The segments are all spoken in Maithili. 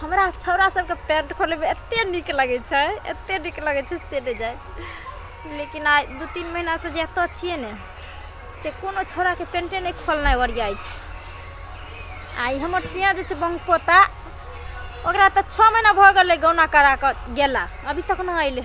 हमरा छौड़ा सबके पैंट खोलैमे एते नीक लगै छै एते नीक लगै छै से नहि जाइ लेकिन आइ दू तीन महिनासँ जे एतऽ छियै ने से कोनो छौड़ाके पेंटे नहि खोलनाइ ओरियाइ छै आइ हमर सिया जे छै बंग पोता ओकरा तऽ छओ महीना भऽ गेलै गौना करा कऽ गेला अभी तक नहि अयलै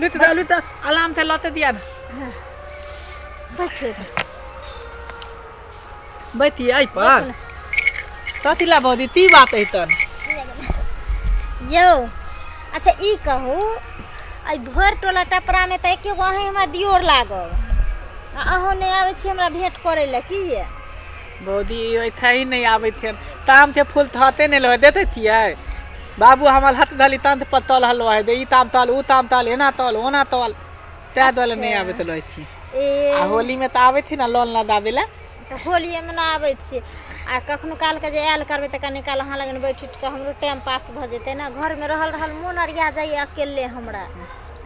लुत दा लुत आराम से लते दिया ना बैठे बैठी आई पर तथी ला बौदी ती बात है तन यौ अच्छा ई कहू आई भर टोला टपरा में तऽ एके गो अहीं हमरा दियोर लागल आ अहूँ नहि आबै छी हमरा भेंट करै लए की ये भौजी ई ओइठा ही नहीं आबै थियन ताम के फूल थते नहीं लगे देते थिए बाबू हमर हथ धली तंत पर तल हलो है दे ई ताम तल ऊ ताम तल एना तल ओना तल तै दल नहीं आबै तो लगे छी ए आ होली में तो आबै थी ना लोन ना दाबे ला तऽ होलिएमे ना आबै छियै आ कखनो कालके जे आयल करबै तऽ कनी काल अहाँ लगन बैठ उठि कऽ हमरो टाइम पास भऽ जेतै ने घरमे रहल रहल मोन अरिया जाइए अकेले हमरा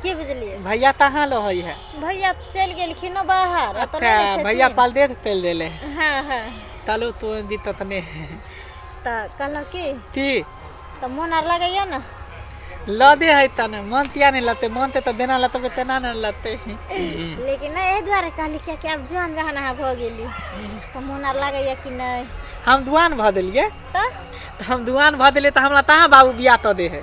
की बुझलियै भैया कहाँ लहै है भैया चलि गेलखिन बाहर भैया पाल देर चलि देले हँ हँ चलू तू दी ततने तऽ कहलहुँ की की तऽ मोन आर लगैया ने लदे है त ने मन तिया नहीं लते मन ते तो देना लते पे तेना नहीं लते लेकिन ना ए द्वारे कहली क्या कि अब जुआन जहान हा भ गेली त मन आर लगे या कि नहीं हम दुआन भ देलिए त हम दुआन भ देलिए त हमरा तहा बाबू बिया त दे है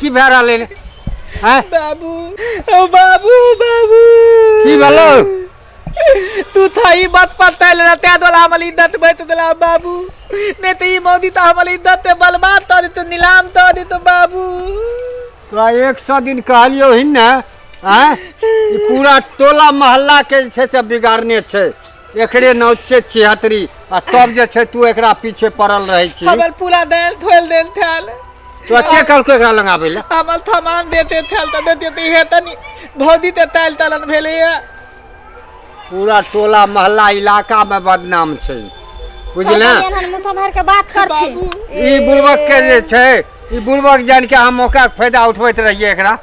की भए रहलै रे हैं बाबू ओ बाबू बाबू की भेलो तू था ई बात पता ले रहते दोला हमल इज्जत बैत दोला बाबू नहीं तो ई मौदी तो हमल इज्जत ते बलबात तो तो नीलाम तो दे तो बाबू तोरा एक सौ दिन कहलियो ही ने हैं ई पूरा टोला मोहल्ला के जे छै से बिगाड़ने छै एकरे नाव छियै छिहत्तरी आ तब जे छै तू एकरा पीछे पड़ल रहै छी हमर पूरा देल धोल देल थैल तो के कहलको एकरा लगाबै लए हमर सामान देते थैल तऽ देते तऽ इहे तनी भौजी ते ताल तलन भेलै है पूरा टोला मोहल्ला इलाका में बदनाम छै बुझले एहन मुसहर के बात करथिन बाबू ई बुड़बक के जे छै ई बुड़बक जान के हम ओकर फायदा उठबैत रहियै एकरा